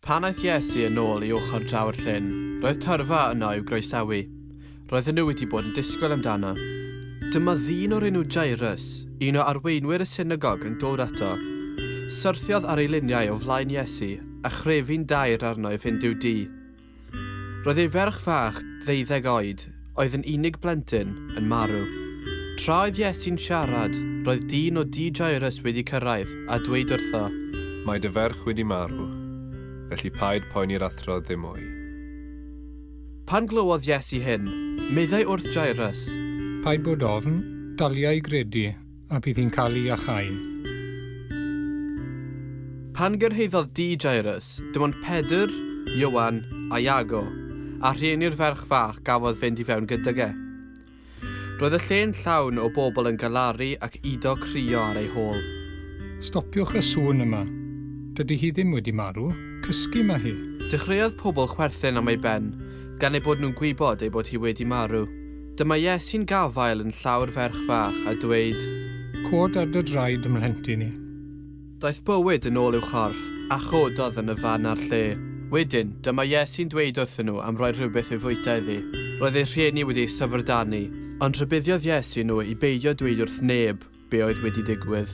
Pan aeth Iesu yn ôl i ochr draw'r llyn, roedd tyrfa yno i'w groesawu. Roedden nhw wedi bod yn disgwyl amdano. Dyma ddyn o'r enw Jairus, un o arweinwyr y synagog yn dod ato. Syrthiodd ar ei liniau o flaen Iesu a chrefu'n daer arno i fynd i'w dŷ. Roedd ei ferch fach, ddeuddeg oed, oedd yn unig blentyn, yn marw. Tra oedd Iesu'n siarad, roedd dyn o dŷ Jairws wedi cyrraedd a dweud wrtho. Mae dy ferch wedi marw, felly paid poeni'r Athro ddim mwy. Pan glywodd Iesu hyn, meddai wrth Jairws. Paid bod ofn, dalia i gredu. A bydd hi'n cael i achau. Pan gyrhaeddodd dŷ Jairws, dim ond Pedr, Ioan, a Iago, a rhieni'r ferch fach gafodd fynd i fewn gydag e. Roedd y lle'n llawn o bobl yn galaru ac udo crio ar ei hôl. Stopiwch y sŵn yma. Dydy hi ddim wedi marw. Cysgu mae hi. Dechreuodd pobl chwerthin am ei ben, gan eu bod nhw'n gwybod ei bod hi wedi marw. Dyma Iesu'n gafael yn llaw'r ferch fach a dweud. Cod ar dy draed, mhlentyn i. Daeth bywyd yn ôl i'w chorff, a chododd yn y fan a'r lle. Wedyn, dyma Iesu'n dweud wrthyn nhw am roi rhywbeth i'w fwyta iddi. Roedd eu rhieni wedi eu syfrdanu, ond rhybuddiodd Iesu nhw i beidio dweud wrth neb be oedd wedi digwydd.